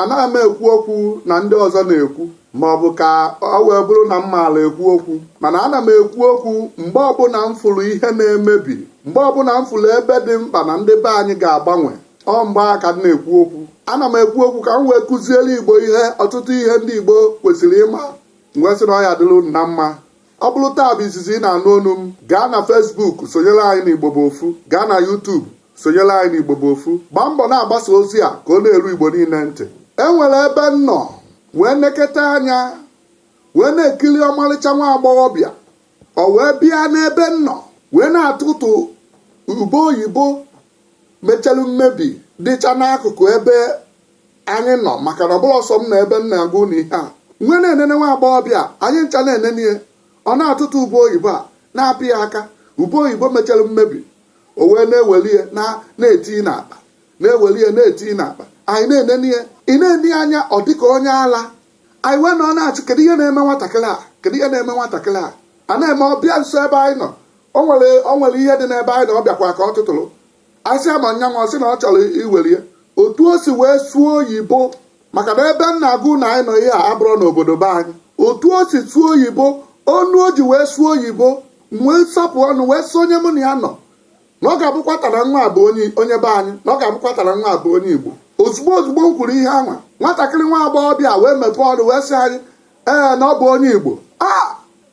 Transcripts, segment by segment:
anaghị m ekwu okwu na ndị ọzọ na-ekwu ma ọ bụ ka ọ wee bụrụ na m maara ekwu okwu mana ana m ekwu okwu mgbe ọbụla m fụrụ ihe na-emebi mgbe ọbụla m fụrụ ebe dị mkpa na ndị be anyị ga-agbanwe ọ mgbe a ka m na-ekwu okwu ana m ekwu okwu ka m wee kụziere igbo ihe ọtụtụ ihe ndị igbo kwesịrị ịma m wee sị na ọ ya dịrị unu na mma ọ bụrụ taa bụ izizi ị na-anụ onu m gaa na Facebook sonyere anyị na Igbo bụ ofu gaa na YouTube sonyere anyị na Igbo bụ ofu gbaa mbọ na-agbasa ozi a ka ọ na-eru Igbo niile ntị e nwere ebe m nọ wee neketa anya wee na-ekiri ọmarịcha nwa agbọghọbịa ọ wee bịa n'ebe m nọ wee na-atụtụ ube oyibo mechara mmebi dịcha n'akụkụ ebe anyị nọ maka na ọ bụrọ sọ m nọ ebe m na-agwa unu ihe a m wee na-enene nwa agbọghọbịa anyị ncha na-enene ya ọ na-atụtụ ube oyibo a na-apị ya aka ube oyibo mechara mmebi o wee na-eweli ya na-eti n'akpa na-eweli ya na-eti n'akpa anyị na-enene ya ị na-ene ya anya ọ dịka onye ala anyị wee nọ na-ajụ kedu ihe na-eme nwatakịrị a kedu ihe na-eme nwatakịrị a a na-eme ọ bịa nso ebe anyị nọ o nwere ihe dị n'ebe anyị nọ ọ bịakwa ka ọ tụtụrụ asị ama nyanwa sị na ọ chọrọ iwere ya otu o si wee sụọ oyibo maka na ebe m na-agwa unu anyị nọ ihe a abụrọ n'obodo be anyị otu o si sụọ oyibo onu o ji wee sụọ oyibo wee sapụ ọnụ wee sị onye mụ na ya nọ na ọ ga-abụkwa nwata anwa bụ onye be anyị na ọ ga-abụkwa nwata anwa bụ onye igbo ozugbo ozugbo m kwuru ihe anwa nwatakịrị nwa agbọghọbịa wee mepee ọnụ wee sị anyị ee na ọ bụ onye igbo a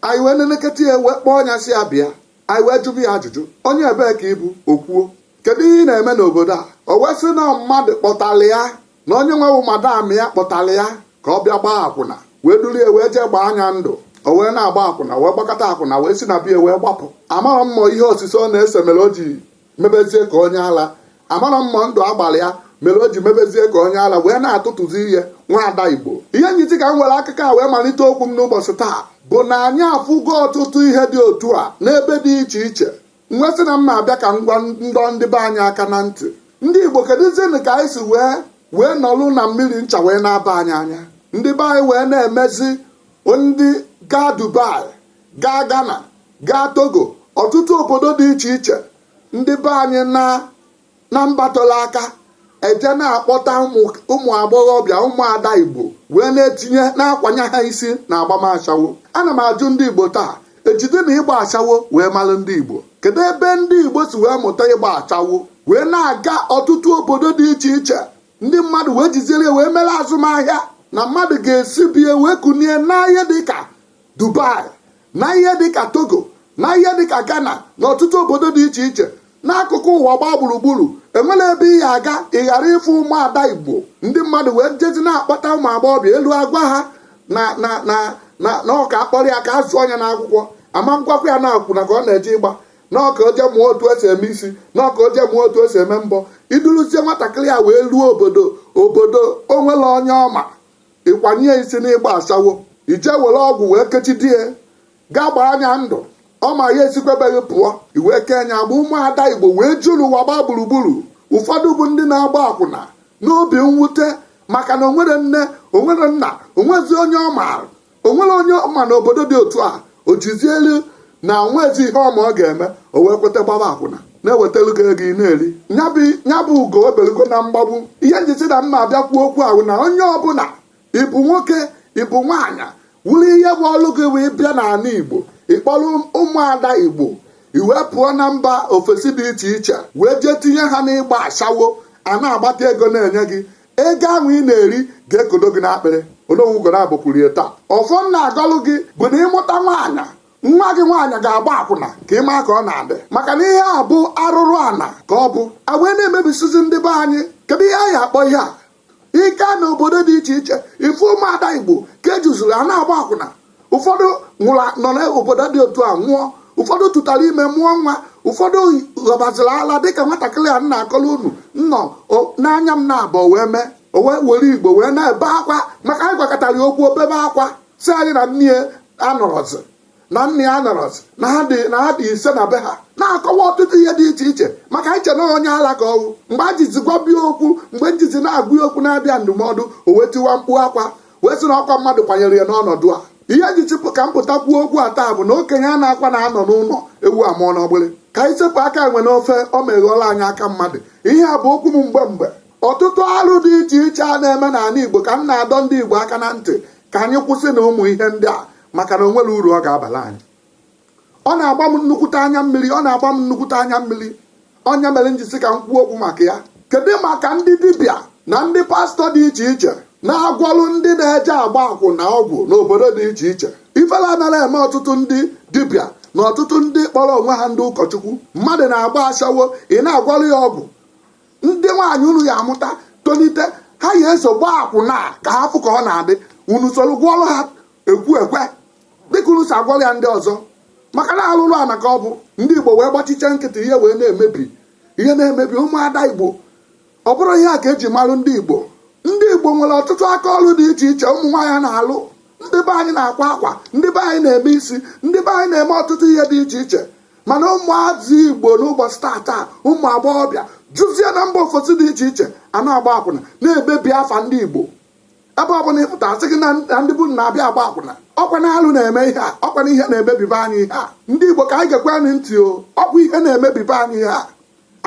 anyị wee neneketa ya wee kpọọ nya sị ya bịa anyị wee jụba ya ajụjụ onye ebee ka ị bụ o kwuo kedu ihe ị na-eme n'obodo a o wee sị na mmadụ kpọtara ya na onye nwewu madam ya kpọtara ya ka ọ bịa gbaa akwụna wee duru ya wee jee gbaa nya ndụ o wee na-agba akwụna wee gbakata akwụna wee si na be ya wee gbapụ amarọ m ma ọ ihe osise ọ na-ese mere o ji mebezie ka onye ala amarọ m ma ọ ndụ a gbara ya mere o ji mebezie ka onye ala wee na-atụtụzi ihe nwaada igbo ihe m ji sị ka m were akụkọ a wee malite okwu m n'ụbọchị taa bụ na anyị afụgo ọtụtụ ihe dị otu a n'ebe dị iche iche m wee sị na m na-abịa ka m wee dọọ ndị be anyị aka na ntị ndị igbo kedụzienụ ka anyị si wee nọlụ na mmiri ncha wee na-aba anyị anya ndị be anyị wee na-emezi ndị gaa dubai gaa Ghana gaa Togo ọtụtụ obodo dị iche iche ndị be anyị na mbatọla aka eje na-akpọta ụmụ agbọghọbịa ụmụada igbo wee na-etinye na-akwanye ha isi na agbam ashawo ana m ajụ ndị igbo taa ejide na ịgba ashawo wee malụ ndị igbo kedu ebe ndị igbo si wee mụta ịgba ashawo wee na-aga ọtụtụ obodo dị iche iche ndị mmadụ wee jiziri ya wee mere azụmahịa na mmadụ ga-esi be ya wee kunie na ihe dịka dubai na ihe dịka togo na ihe dịka ghana na ọtụtụ obodo dị iche iche n'akụkụ ụwa gbaa gburugburu e nwere ebe ị ya-aga ị ghara ịfụ ụmụada igbo ndị mmadụ wee jezi na-akpọta ụmụ agbọghọbịa elu agwa ha na na na na na ọ ka a kpọrọ ya ka a zụọ nya n'akwụkwọ a ma ngwakwa ya na akwụna ka ọ na-eje ịgba na ọ ka o je mụọ otu e si eme isi na ọ ka o je mụọ otu e si eme mbọ i duruzie nwatakịrị a wee ruo obodo obodo o nwere onye ọ ma ị kwanye ya isi n'ịgba ashawo i je were ọgwụ wee kechidi ya gaa gbaa nya ndụ ọ ma ya esikwa be gị pụọ i wee kee nya agba ụmụada igbo wee juru ụwa gbaa gburugburu ụfọdụ bụ ndị na-agba akwụna n'obi mwute maka na o nwere nne o nwere nna o nwezi onye ọ maara o nwere onye ọ ma na obodo dị otu a o jizi elu na o nwezi ihe ọ ma ọ ga-eme o wee kweta gbaba akwụna na-ewetara gị ego ị na-eri ya bụ ugo ebelugo na mgbagbu ihe m ji sị na m ma abịa kwuo okwu a wụ na onye ọbụla ị bụ nwoke ị bụ nwaanyị wụrụ ihe bụ ọlụ gị wee bịa n'ala igbo ị kpọrọ ụmụada igbo i wee pụọ na mba ofesi dị iche iche wee jee tinye ha n'ịgba ashawo a na-agbata ego na-enye gị ego ahụ ị na-eri ga-ekodo gị n'akpịrị onowu ugonabọ kwuru ya taa ọfọ m na-agọlụ gị bụ na ị mụta nwaanyị nwa gị nwaanyị ga-agba akwụna ka ị maa ka ọ na-adị maka na ihe a bụ arụrụ ana ka ọ bụ a wee na-emebisizi ndị be anyị kedu ihe anyị akpọ ihe a i je na obodo dị iche iche ị fụ ụmụada igbo ka e juzuru a na-agba akwụna ụfọdụ nwụrụ nọ n'obodo dị otu a nwụọ ụfọdụ tụtara ime mụọ nwa ụfọdụ ghọbaziri ala dịka nwatakịrị a m na-akọrọ unu nnọ n'anya m naabọ wee mee o wee were igbo wee na-ebe akwa ma ka anyị gwakatara ya okwu o bebe akwa sị anyị na nne ya anọrọzi na nne ya anọrọzi na ha dị na ha dị ise na be ha na-akọwa ọtụtụ ihe dị iche iche maka anyị che na onye ala ka ọ wụ mgbe e jizi gwaba ya okwu mgbe m jizi na-agwa ya okwu na-abịa ndụmọdụ o wee tiwa mkpu akwa wee sị na ọ kwa mmadụ kwanyere ya n'ọnọdụ a ihe ji chịpụ ka m pụta kwuo okwu a taa bụ na okenye anakwanụ anọ n'ụlọ ewu amụọ n'ọgbụlị ka anyị sepụ aka enwe n'ofe ọ meghọọla anyị aka mmadụ ihe a bụ okwu m mgbe mgbe ọtụtụ arụ dị iche iche a na-eme n'ala igbo ka m na-adọ ndị igbo aka na ntị ka anyị kwụsị na ụmụ ihe ndị a maka na o nwere uru ọ ga-abara anyị ọ na-agba m nnukwute anya mmiri ọ na-agba m nnukwute anya mmiri ọ nya mere m ji sị ka m kwuo okwu maka ya kedu maka ndị dibịa na ndị pastọ dị iche iche na-agwọrụ ndị na-eje agba akwụna ọgwụ n'obodo dị iche iche ifele anara eme ọtụtụ ndị dibịa na ọtụtụ ndị kpọrọ onwe ha ndị ụkọchukwu mmadụ na-agba ashawo ị na-agwọrụ ya ọgwụ ndị nwaanyị unu ya-amụta tolite ha ya-eso gbaa akwụna ka ha fụ ka ọ na-adị unu soro gwọọrụ ha ekwu ekwe dịka unu si agwọrọ ya ndị ọzọ maka na alụrụ ana ka ọ bụ ndị igbo wee gbachicha nkịtị ihe wee na-emebi ihe na-emebi ụmụada igbo ọ bụrọ ihe a ka eji marụ ndị igbo ndị igbo nwere ọtụtụ aka ọrụ dị iche iche ụmụ nwaanyị na-alụ ndị be anyị na-akwa akwa ndị be anyị na-eme isi ndị be anyị na-eme ọtụtụ ihe dị iche iche mana ụmụazị igbo n'ụbọchị tata ụmụ agbọghọbịa jụzie na mba ofesi dị iche iche a na-agba akwụna na-emebi afa ndị igbo ebe ọ bụla ị pụta a sị gị na na ndị igbo na-abịa agba akwụna ọkwa na alụ na-eme ihe a ọkwa na ihe na-emebi be anyị ihe a ndị igbo ka anyị gekwe anyị ntị o ọkwa ihe na-emebi be anyị ihe a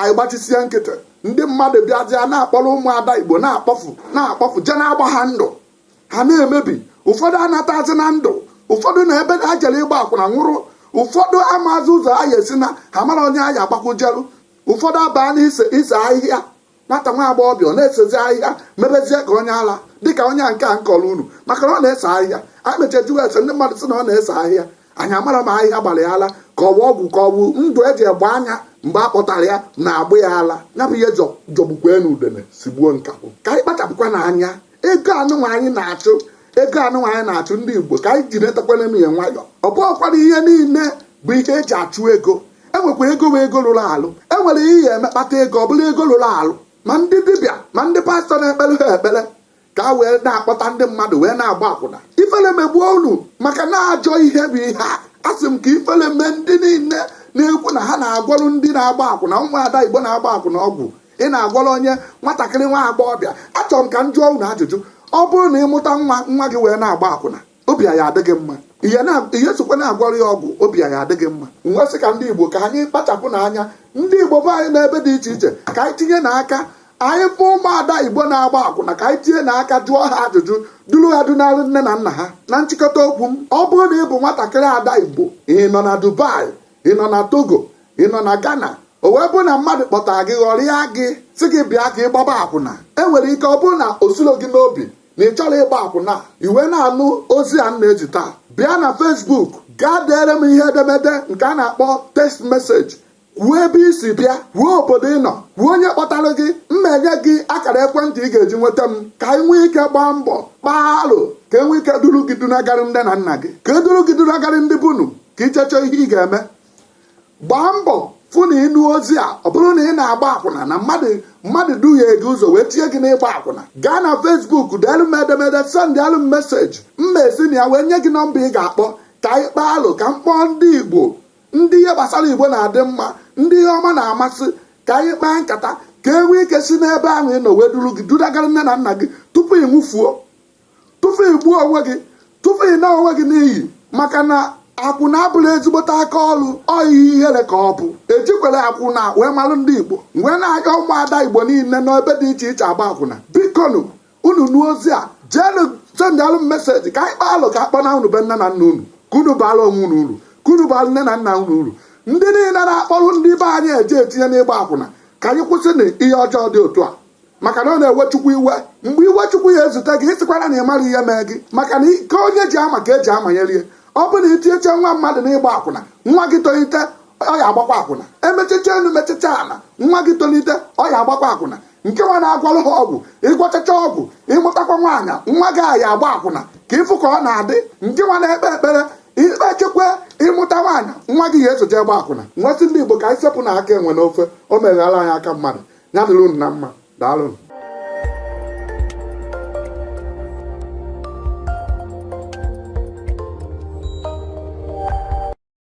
anyị gbachisie nkịtị ndị mmadụ bịazịa na-akpọrọ ụmụada igbo na-akpọfu na-akpọfu je na-agba ha ndụ ha na-emebi ụfọdụ anatazi na ndụ ụfọdụ na ebe ha jere ịgba akwụna nwụrụ ụfọdụ amaazị ụzọ ha ya-esi naa ha mara onye ha ya-agbakwujelu ụfọdụ abaa na ise ise ahịhịa nwata nwa agbọghọbịa ọ na-esezi ahịhịa mebezie ka onye ala dịka onye nke a m kọrọ unu maka na ọ na-ese ahịhịa anyị mechaa jụwa ese ndị mmadụ sị na ọ na-ese ahịhịa anyị amara ma ahịhịa gbara ya ala ka ọ bụ ọgwụ ka ọ bụ ndụ eji egbe anya mgbe a kpọtara ya na-agba ya ala ya bụ ihe jọ- jọgbukwanụ udene sigbuo nkakwụ ka anyị kpachapụkwanụ anya ego anụnwa anyị na-achụ ego anụnwa anyị na-achụ ndị igbo ka anyị ji netakwanụ ya nwayọ ọ bụghịkwara ihe niile bụ ihe eji achụ ego enwekwa ego wee ego rụrụ alụ enwere ihe ị ya-eme kpata ego ọ bụrụ ego rụrụ alụ ma ndị dibịa ma ndị pastọ na-ekpere ha ekpere ka ha wee na-akpọta ndị mmadụ wee na-agba akwụna ifele megbuo unu maka na ajọ ihe bụ ihe a asị m ka ifele mee ndị niile na-ekwu na ha na-agwọrụ ndị na-agba akwụna nwa ada igbo na-agba akwụna ọgwụ ị na-agwọrọ onye nwatakịrị nwa agbọghọbịa achọrọ m ka m jụọ unu ajụjụ ọ bụrụ na ị mụta nwa nwa gị wee na-agba akwụna obi a ya-adị gị mma ihe na- ị ya-esokwa na-agwọrọ ya ọgwụ obi a ya-adị gị mma m wee sị ka ndị igbo ka anyị kpachapụnụ anya ndị igbo be anyị n'ebe dị iche iche ka anyị tinyenụ aka anyị fụ ụmụada igbo na-agba akwụna ka anyị tinyenụ aka jụọ ha ajụjụ duru ha dunalụ nne na nna ha na nchịkọta okwu m ọ bụrụ na ị bụ nwatakịrị ada igbo ị nọ na dubai ị nọ na togo ị nọ na ghana o wee bụ na mmadụ kpọtara gị ghọrịa gị sị gị bịa ka ị gbaba akwụna e nwere ike ọ bụrụ na o sirọ gị n'obi na ị chọrọ ịgba akwụna i wee na-anụ ozi a m na-ezi taa bịa na Facebook gaa deere m ihe edemede nke a na-akpọ text message kwuo ebe i si bịa kwuo obodo ị nọ kwuo onye kpọtara gị m ma-enye gị akara ekwentị ị ga-eji nweta m ka anyị nwee ike gbaa mbọ kpaa alo ka e nwee ike duru gị dunagarị nne na nna gị ka e duru gị dunagarị ndị be unu ka i cheche ihe ị ga-eme gbaa mbọ fụ na ị nụ ozi a ọ bụrụ na ị na-agba akwụna na mmadụ mmadụ duhie gị ụzọ wee tinye gị n'ịgba akwụna gaa na Facebook deelu m edemede sendịalụ m message m ma-esi na ya wee nye gị nọmba ị ga-akpọ ka anyị kpaa alo ka m kpọọ ndị igbo ndị ihe gbasara igbo na-adị mma ndị ihe ọma na-amasị ka anyị kpaa nkata ka e nwee ike si n'ebe ahụ ị nọ wee duru gị dunagara nne na nna gị tupu ị nwụfuo tupu ị gbuo onwe gị tupu ị naa onwe gị n'iyi maka na akwụna abụla ezigbote aka ọrụ ọ ihe ihere ka ọ bụ ejikwere akwụna wee malụ ndị igbo wee na-agwa ụmụada igbo niile n'ebe dị iche iche agba akwụna bikonu unu nụọ ozi a jeenụ sendalụ m message ka anyị kpaalụ ka akpọnaa unu be nne na nna unu ka unu baala onwe unu uru ka unu baala nne na nna unu uru ndị niile na-akpọrụ ndị be anyị eje etinye n'ịgba akwụna ka anyị kwụsịnụ ihe ọjọọ dị otu a maka na ọ na-ewe chukwu iwe mgbe iwe chukwu ya ezute gị ịsịkwara na ị mara ihe mee gị maka na iko onye ji ama ka eji amanyelie ọ bụ na itinyecha nwa mmadụ n'ịgba akwụna nwa gị tolite ọ ya agbakwa akwụna emechicha elu mechicha ala nwa gị tolite ọ ya agbakwa akwụna nke nwa na-agwọlụ ha ọgwụ ịgwọchacha ọgwụ ịmụtakwa nwaanyị nwa gị aya agba akwụna ka ịfụ ka ọ na-adị nke nwa na-ekpe ekpere ikpechekwa ịmụta nwaanyị nwa gị ya eso je gba akwụna m wee sị ndị igbo ka anyị sepụnụ aka enwe n'ofe o meghala anyị aka mmadụ ya dịrị unu na mma daalụ